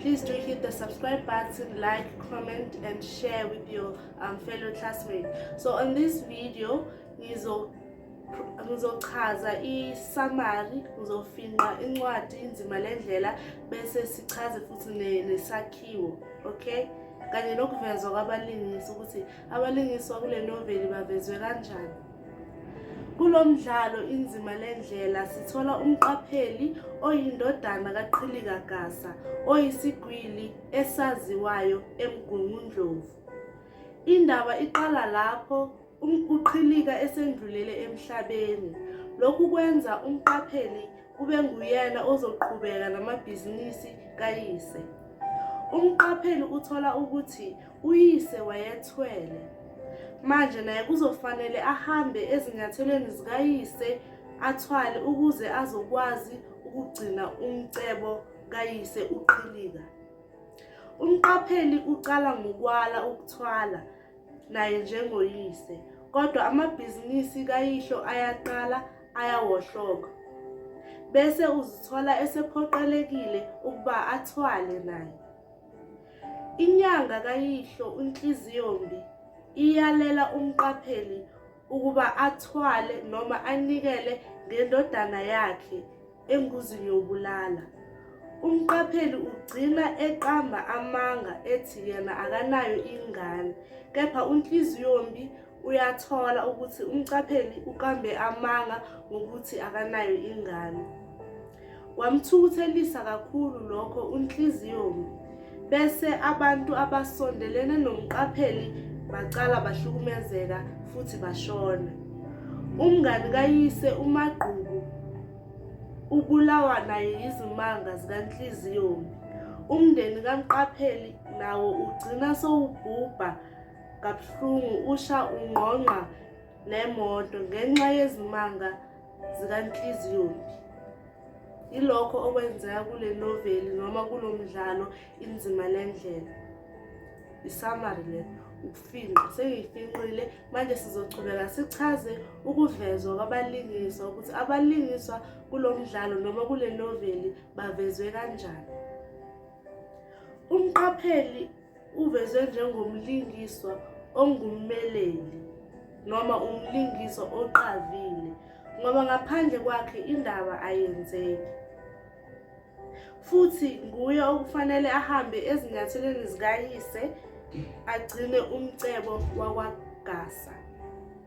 Please do hit the subscribe button, like, comment, and share with your um, fellow classmates. So on this video, ngizo ngizochaza i-summary ngizofinqa incwadi inzima le ndlela bese sichaze futhi nesakhiwo okay kanye nokuvezwa kwabalingisi ukuthi abalingiswa kule noveli bavezwe kanjani Kulo mdlalo inzima le ndlela sithola umqapheli oyindodana kaQhilika Gasa oyisigwili esaziwayo eMgungundlovu. Indaba iqala lapho uQhilika esendlulele emhlabeni. Lokhu kwenza umqapheli kube nguyena ozoqhubeka namabhizinisi kayise. Umqapheli uthola ukuthi Uyise wayethwele. Manje naye kuzofanele ahambe ezinyathelweni zikayise athwale ukuze azokwazi ukugcina umcebo kayise uqhilika. Umqapheli uqala ngokwala ukuthwala naye njengoyise, kodwa amabhizinisi kayihlo ayaqala ayawohloka. Bese uzithola esephoqelekile ukuba athwale naye. Inyanga kayihlo uNhliziyombi iyalela umqapheli ukuba athwale noma anikele ngendodana yakhe engozini yokubulala. Umqapheli ugcina eqamba amanga ethi yena akanayo ingane kepha uNhliziyombi uyathola ukuthi umcapheli uqambe amanga ngokuthi akanayo ingane kwamthukuthelisa kakhulu lokho unhliziyomi bese abantu abasondelene nomqapheli bacala bahlukumezeka futhi bashona umngani kayise umagqubu ubulawa naye yizimanga zikanhliziyomi umndeni kamqapheli nawo ugcina sowubhubha kabuhlungu usha ungqongqa nemoto ngenxa yezimanga zikanhliziyombi yilokho okwenzeka kule noveli noma kulo mdlalo inzima le ndlela isamari le ukufinqa sengiyifinqile manje sizochubeka sichaze ukuvezwa kwabalingiswa ukuthi abalingiswa kulo mdlalo noma kule noveli bavezwe kanjani umqapheli Uvezwe njengomlingiswa ongummeleli noma umlingiswa oqavile ngoba ngaphandle kwakhe indaba ayenzeki. Futhi nguye okufanele ahambe ezinyathelweni zikayise agcine umcebo wakwaGasa.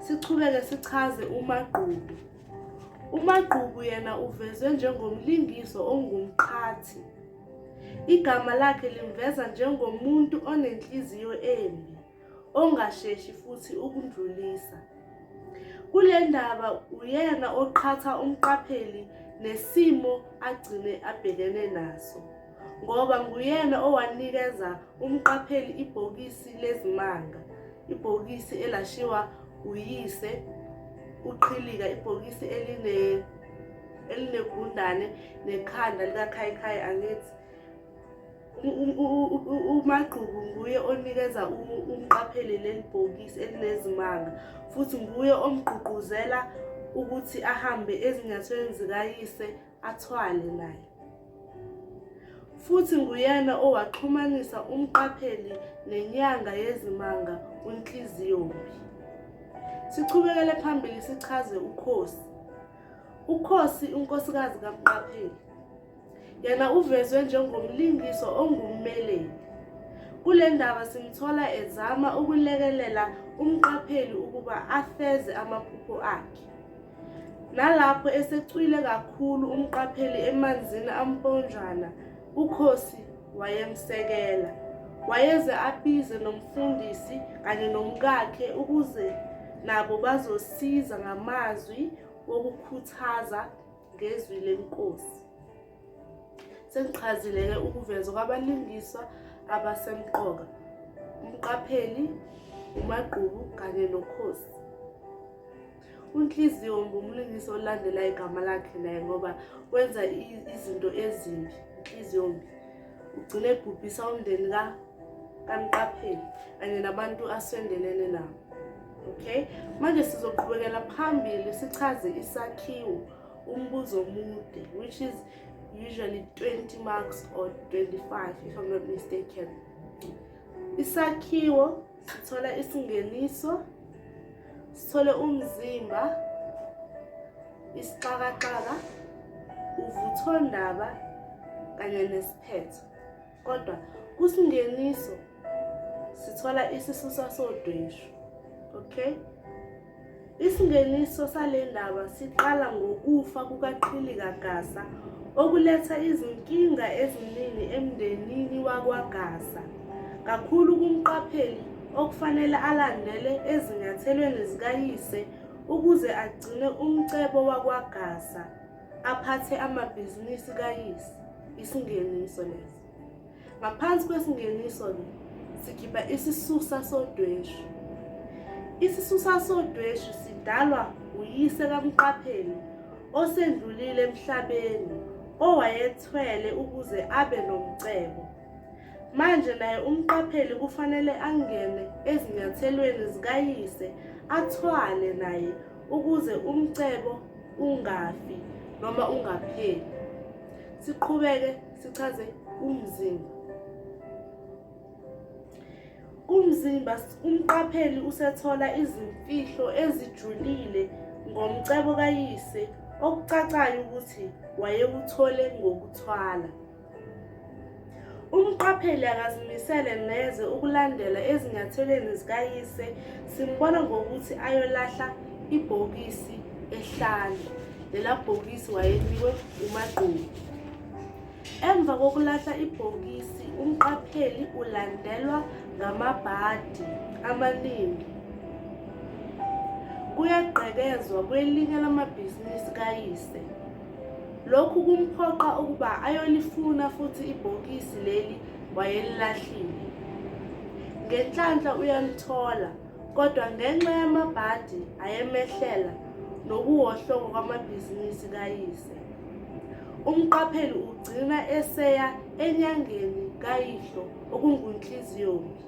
Sichubeke sichaze uMagqubu. UMagqubu yena uvezwe njengomlingiso ongumqhathi. Igama lakhe limveza njengomuntu onenhliziyo embi, ongasheshi futhi ukundlulisa. Kule ndaba uyena oqhatha umqapheli nesimo agcine abhekene naso. ngoba nguyena owanikeza umqapheli ibhokisi lezimanga ibhokisi elashiwa uyise uqhilika ibhokisi eline elinegundane nekhanda likakhayikhayi angithi umagqubu nguye onikeza umqapheli leli bhokisi elinezimanga futhi nguye omgqugquzela ukuthi ahambe ezinyathelweni zikayise athwale naye futhi nguyena owaxhumanisa umqapheli nenyanga yezimanga uNhliziyombi. Sichubekele phambili sichaze ukhosi. Ukhosi unkosikazi kamqapheli. Yena uvezwe njengomlingiswa ongummeleli. Kule ndaba simthola ezama ukulekelela umqapheli ukuba afeze amaphupho akhe. Nalapho esecwile kakhulu umqapheli emanzini amponjwana, uKhosi wayemsekela. Wayeze abize nomfundisi kanye nomkakhe ukuze nabo bazosiza ngamazwi wokukhuthaza ngezwi lenkosi. Sengichazile-ke ukuvezwa kwabalingiswa abasemqoka, uMqapheli, uMagqubu kanye noKhosi. UNhliziyo ngumlingisi olandela igama lakhe naye ngoba wenza izinto ezimbi, inhliziyo mbi. Ugcine ebhubhisa umndeni ka kaMqapheli kanye nabantu asondelene nabo. Okay? Manje sizoqhubekela phambili sichaze isakhiwo. umbuzo omude which is usually 20 marks or 25 if i'm not mistaken isakhiwo sithola isingeniso sithole umzimba isixakaxaka uvuthondaba kanye nesiphetho kodwa kusingeniso sithola isisusa sodweshu okay isingeniso sale ndaba siqala ngokufa kukaqhilika gasa okuletha izinkinga eziningi emndenini wakwagasa kakhulu kumqapheli okufanele alandele ezinyathelweni zikayise ukuze agcine umcebo wakwagasa aphathe amabhizinisi kayise isingeniso lesi ngaphansi kwesingeniso le sikhipha isisusa sodweshu isisusa sodweshu sidalwa uyise kamqapheli osendlulile emhlabeni owayethwele ukuze abe nomcebo Manje naye umqapheli kufanele angene ezinyathelweni zikayise athwale naye ukuze umcebo ungafi noma ungapheli. Siqhubeke sichaze umzimba. Kumzimba umqapheli usethola izimfihlo ezijulile ngomcebo kayise okucacayo ukuthi wayewuthole ngokuthwala. Umqapheli akazimisele neze ukulandela ezinyathelweni zikayise, simbona ngokuthi ayolahla ibhokisi ehlane. Lela bhokisi wayenikwe uMagqubu. Emva kokulahla ibhokisi, umqapheli ulandelwa ngamabhadi amaningi. Kuyagqekezwa kwelinye lamabhizinisi kayise. Lokhu kumphoqa ukuba ayolifuna futhi ibhokisi leli wayelilahlile. Ngenhlanhla uyalithola kodwa ngenxa yamabhadi ayemehlela nokuwohloka kwamabhizinisi kayise. Umqapheli ugcina eseya enyangeni kayihlo okunguNhliziyombi.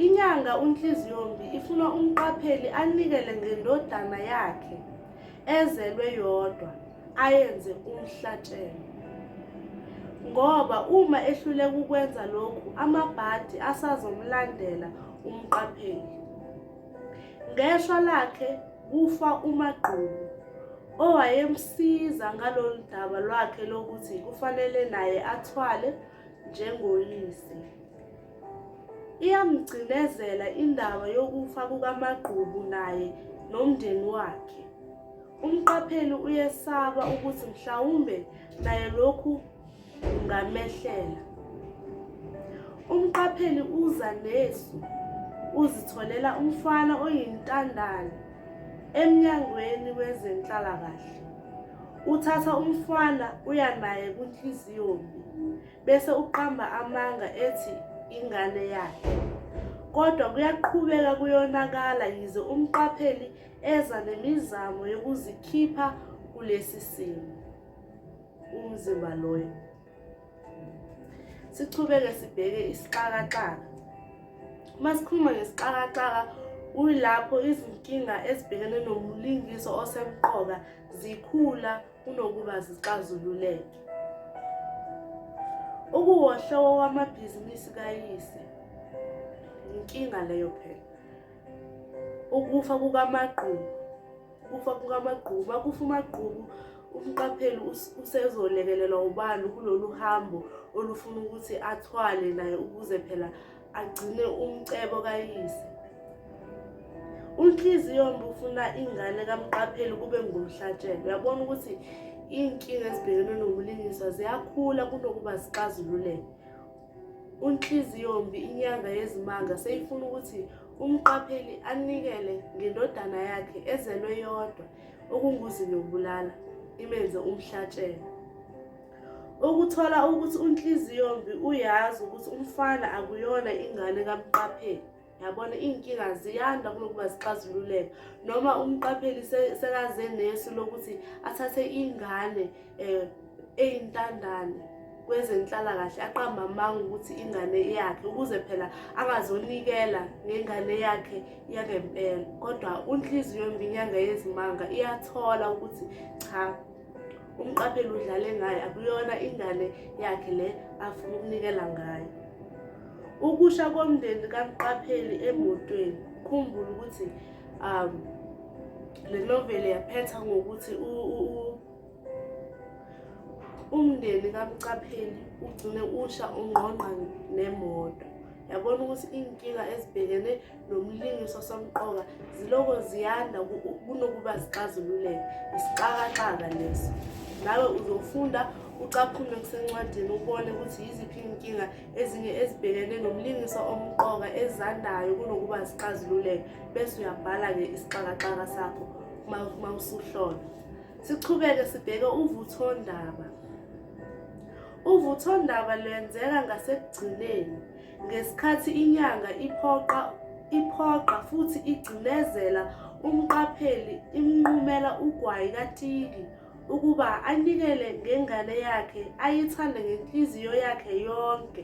Inyanga uNhliziyombi ifuna umqapheli anikele ngendodana yakhe. ezelwe yodwa ayenze umhlatshelo ngoba uma ehluleka ukwenza lokhu amabhadi asazomlandela umqapheli ngeshwa lakhe kufa umagqubu owayemsiza ngalolu daba lwakhe lokuthi kufanele naye athwale njengoyise Iyamgcinezela indaba yokufa kukaMagqubu naye nomndeni wakhe. Umqapheli uyesaba ukuthi mhlawumbe naye lokhu kungamehlela. Umqapheli uza nesu uzitholela umfana oyintandane emnyangweni wezenhlalakahle. Uthatha umfana uya naye kunhliziyo mbi. bese uqamba amanga ethi ingane yakhe kodwa kuyaqhubeka kuyonakala yize umqapheli eza nemizamo yokuzikhipha kulesi simo umzimba loyo sichubeke sibheke isixakaxaka uma sikhuluma ngesixakaxaka kuyilapho izinkinga ezibhekene nomlingiso osemqoka zikhula kunokuba zixazululeke. Ukuwohlowo wamabhizinisi kayise inkinga leyo phela. Ukufa kukamagqubu ukufa kukamagqubu makufa umagqubu umqapheli usezolekelelwa ubani kulolu hambo olufuna ukuthi athwale naye ukuze phela agcine umcebo kayise unhliziyombi ufuna ingane kamqapheli kube ngumhlatshelo uyabona ukuthi iy'nkinga ezibhekene nokulingiswa ziyakhula kunokuba zixazululeke unhliziyombi inyanga yezimanga seyifuna ukuthi umqapheli anikele ngendodana yakhe ezelwe yodwa okunguzi nokubulala imenze umhlatshelo Ukuthola ukuthi unhliziyombi uyazi ukuthi umfana akuyona ingane kamqapheli yabona iy'nkinga ziyanda kunokuba zixazululeka noma umqapheli sekaze nesu lokuthi athathe ingane um eyintandane kwezenhlalakahle aqamba amanga ukuthi ingane yakhe ukuze phela angazonikela ngengane yakhe yangempela kodwa unhliziyo mbi inyanga yezimanga iyathola ukuthi cha umqapheli udlale ngayo akuyona ingane yakhe le afuna ukunikela ngayo ukusha komndeni kamqapheli emotweni khumbula ukuthi um le noveli yaphetha ngokuthi umndeni kamqapheli ugcine usha ungqongqa nemoto yabona ukuthi iy'nkinga ezibhekene nomlingiswa somqoka ziloko ziyanda kunokuba zixazululeke isixakaxaka lesi nawe uzofunda ucaphume kusencwadini ubone ukuthi yiziphi iy'nkinga ezinye ezibhekene nomlingiswa omqoka ezandayo kunokuba zixazululeke bese uyabhala-ke isixakaxaka sakho uma usuhlola sichubeke sibheke uvuthondaba uvuthondaba lwenzeka ngasekugcineni Ngesikhathi inyanga iphoqa iphoqa futhi igcinezela umqapheli imnqumela ugwayi katiki ukuba anikele ngengane yakhe ayithande ngenhliziyo yakhe yonke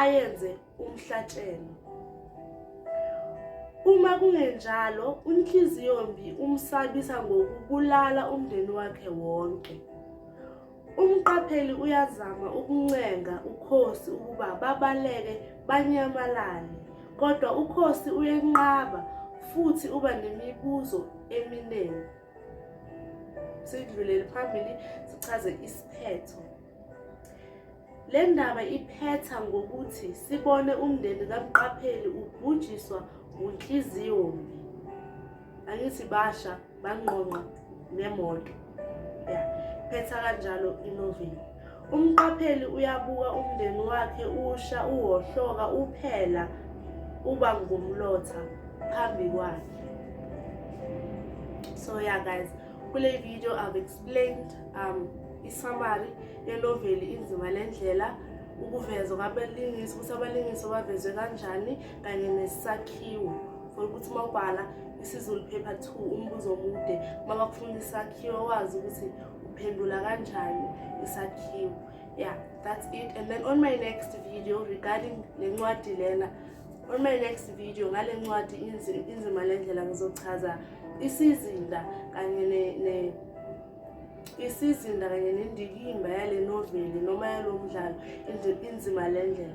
ayenze umhlatshelo uma kungenjalo unhliziyombi umsabisa ngokubulala umndeni wakhe wonke Umqapheli uyazama ukuncenga ukhosi ukuba babaleke banyamalale, kodwa ukhosi uyenqaba futhi uba nemibuzo eminingi. Sidlulele phambili sichaze isiphetho. Le ndaba iphetha ngokuthi sibone umndeni kamqapheli ubhujiswa ngunhliziyo mbi. angithi basha bangqongqa nemoto ya phetha kanjalo inoveli umqapheli uyabuka umndeni wakhe usha uwohloka uphela uba ngumlotha phambi kwakhe so yeah guys kule video i've explained um isamari yenoveli inzima lendlela ukuveza kwabalingisi ukuthi abalingisi bavezwe kanjani kanye nesakhiwo for ukuthi uma ubhala isiZulu paper 2 umbuzo omude uma bakufuna isakhiwo wazi ukuthi uphendula kanjani isakhiwo yeah that's it and then on my next video regarding le ncwadi lena on my next video ngale ncwadi inzima le ndlela ngizochaza isizinda kanye ne, ne isizinda kanye nendikimba yale noveli noma yalo mdlalo inzima le ndlela